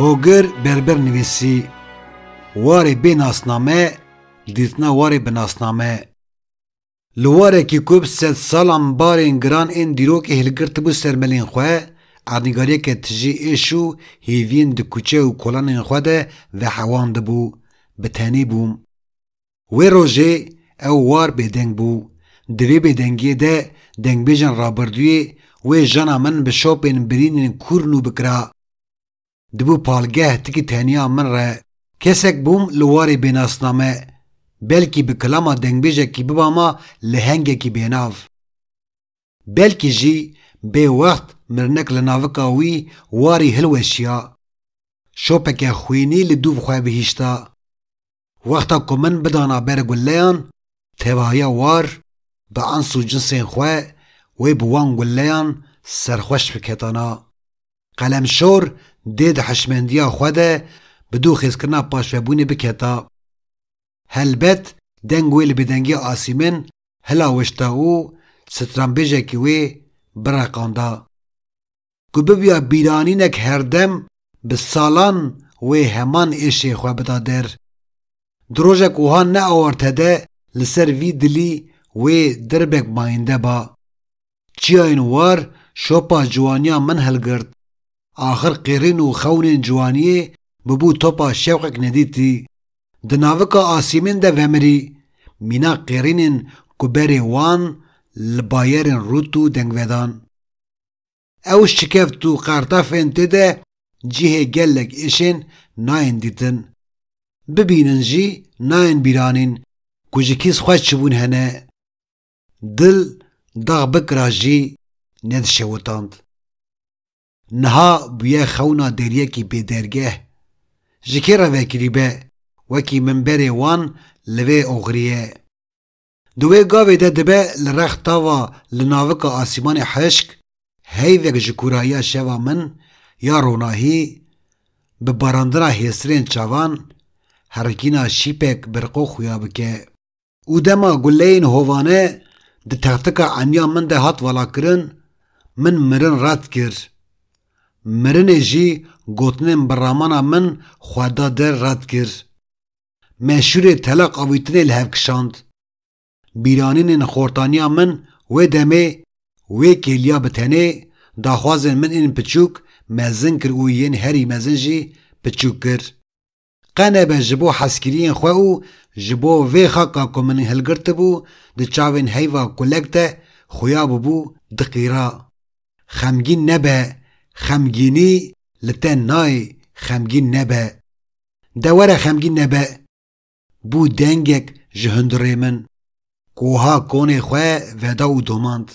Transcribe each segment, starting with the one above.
Hogir berber nivîsî warê bê nasname dîtina warê bi nasname. Li warekî ku bi sed salan barên giran ên dîrokê hilgirtibû ser melên xwe, erdnîgariyeke tijî êş û hêviyên di kuçe û kolanên xwe de vehewandibû, bi tenê bûm. Wê rojê ew war bêdeng bû. Di vê bêdengiyê de dengbêjên rabirdûyê wê jana min bi şopên birînên kûr nû bikira. Dibû palgeh ti ki teniya min re kesek bûm li warê bênasname, belkî bi kilama dengbêjekî biba ma lehengekî bênav. Belkî jî bê wext mirinek li navika wî warî hilweşiya, şopeke xwînî li dûv xwe bihîşta. Wexta ku min bidana ber guleyan, tevahiya war bi ens û cinsên xwe wê bi wan guleyan serxweş biketana. Qelemşor dê di hişmendiya xwe de bi dû xêzkirina paşvebûnê biketa. Helbet deng wê li bêdengiya Asîmin hilawişta û stranbêjekî wê bireqanda. ku bibûya bîranînek herdem bi salan wê heman êşê xwe bida der. Di rojek wiha neaworte de li ser vî dilî wê dirbek mayinde ba. Çiyayên war şopa ciwaniya min hilgirt. Axir qîrîn û xewnên ciwaniyê bibû topa şewqek nedîtî. Di navika asîmên de vemirî. Mîna qîrînên ku berê wan li bayerên rût û dengvedan. Ew şikeft û qartafên tê de cihê gelek êşên nayên dîtin. Bibînin jî nayên bîranîn ku ji kîs xweş çibûn hene. Dil dax bikira jî nedişewitand. Niha bûye xewna deriyekî bêdergeh. Ji kê re vekirîbe wekî min berê wan li vê oxiriyê. Di wê gavê de dibe li rex tava li navika asîmanê hişk heyvek ji kûrayiya şeva min ya ronahî bi barandina hêsirên çavan herikîna şîpek bi riqo xuya bike û dema guleyên hovane di textika eniya min de hat valakirin min mirin red kir. Mirinê jî gotinên bi ramana min xwe da der red kir. meşûrê telaq avîtinê li hev kişand. Bîranînên xortaniya min wê demê, wê kêliya bi tenê, daxwazên min ên piçûk mezin kir û yên herî mezin jî piçûk kir. Qe nebe ji bo hezkiriyên xwe û ji bo vê xaka ku min hilgirtibû di çavên heyva kulek de xuya bûbû diqîra. Xemgîn nebe, xemgînî li te nayê, xemgîn nebe. De were xemgîn nebe. Bû dengek ji hundirê min. Koha konê xwe veda û domand.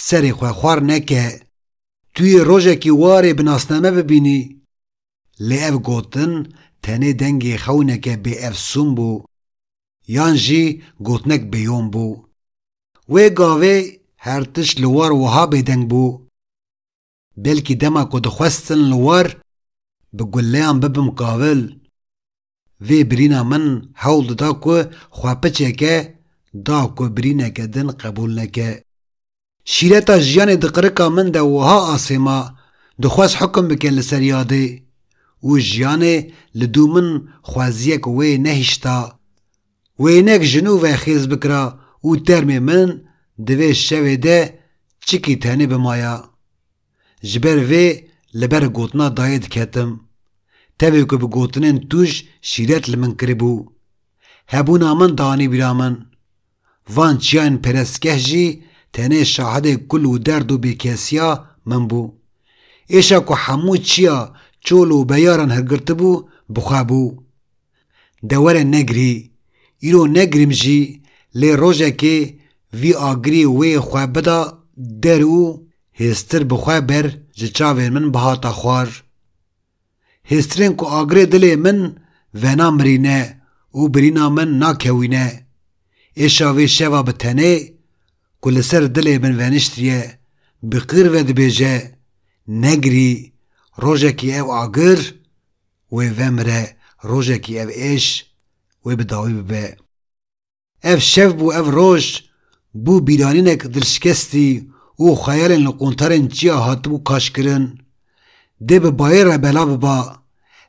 Serê xwe xwar neke. Tu yê rojekî warê bi nasname bibînî. Lê ev gotin tenê dengê xewneke bêefsûn bû. Yan jî gotinek bêyon bû. Wê gavê her tişt li war wiha bêdeng bû. Belkî dema ku dixwestin li war bi guleyan bibim qawil, vê birîna min hewl dida ku xwe piçeke da ku birîneke din qebûl neke. Şîreta jiyanê di qirika min de wiha asê ma, dixwest hukm bike li ser yadê û jiyanê li dû min xweziyek wê nehişta Wênek ji nû ve xêz bikira û termê min di vê şevê de çikî tenê bimaya. Ji ber vê li ber gotina dayê diketim. Tevê ku bi gotinên tûj şîret li min kiribû. Hebûna min dianî bîra min. Van çiyayên perestgeh jî tenê şahidê kul û derd û bêkesiya min bû. Êşa ku hemû çiya çol û beyaran hilgirtibû bi xwe bû. dewere negirî, îro negirîm jî lê rojekê vî agirî wê xwe bida der û hêztir bi xwe ber ji çavên min bihata xwar. Hêztirên ku agirê dilê min venamirîne û birîna min nakewîne. Êşa vê şeva bi tenê ku li ser dilê min veniştiye bi qîr ve dibêje, Negirî, rojekê ew agir wê vemire rojekî ev êş wê bi dawî bibe. Ev şev bû ev roj bû bîranînek dilşikestî û xeyalên li quntarên çiya hatibû kaşkirin. Dê bi bayê re bela biba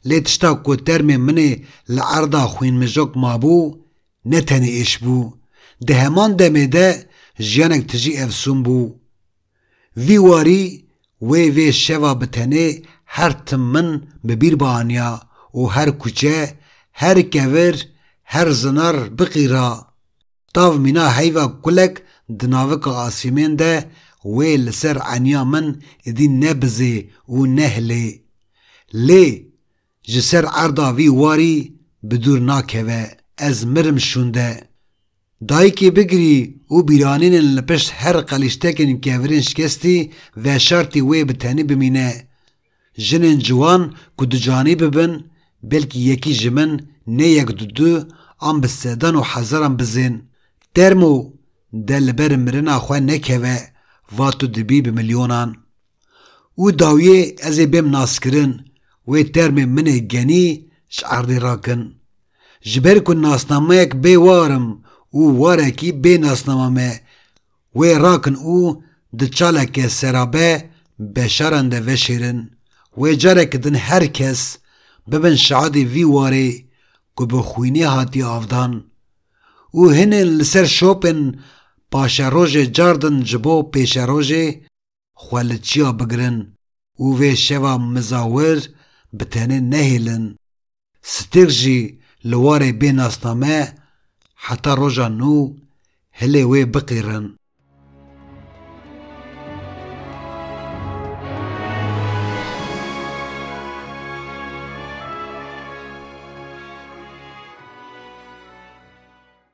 lê tişta ku termê minê li erda xwînmijok mabû ne tenê êş bû, di heman demê de jiyanek tijî efsûn bû. Vî warî wê vê şeva bi tenê her tim min bi bîr bianiya û her kuçe, her kevir, her zinar biqîra. Tav mîna heyva kulek di navika asîmên de wê li ser eniya min îdî ne bizê û ne hilê. Lê Ji ser erda vî warî bi dûr nakeve, ez mirim şûnde. Dayikê bigirî û bîranînên li pişt her qelîştekên kevirên şikestî veşartî wê bi tenî bimîne. Jinên ciwan ku ducanî bibin, belkî yekî ji min nê yek du du an bi sedan û hezaran bizên. Termo de li ber mirina xwe nekeve, va tu dibî bi milyonan. Û dawiyê ez ê bêm naskirin, wê termê min ê genî ji erdê rakin. Ji ber ku nasnameyek bê war im û warekî bê nasnama me, wê rakin û di çaleke serabe beşaran de veşêrin. Wê careke din her kes, bibin şahidê vî warê ku bi xwînê hatiye avdan. Û hinên li ser şopên paşerojê car din ji bo pêşerojê, xwe li çiya bigirin û vê şeva mizawir bi tenê nehêlin. Stêrk jî li warê bê nasname heta roja nû hilê wê biqîrin.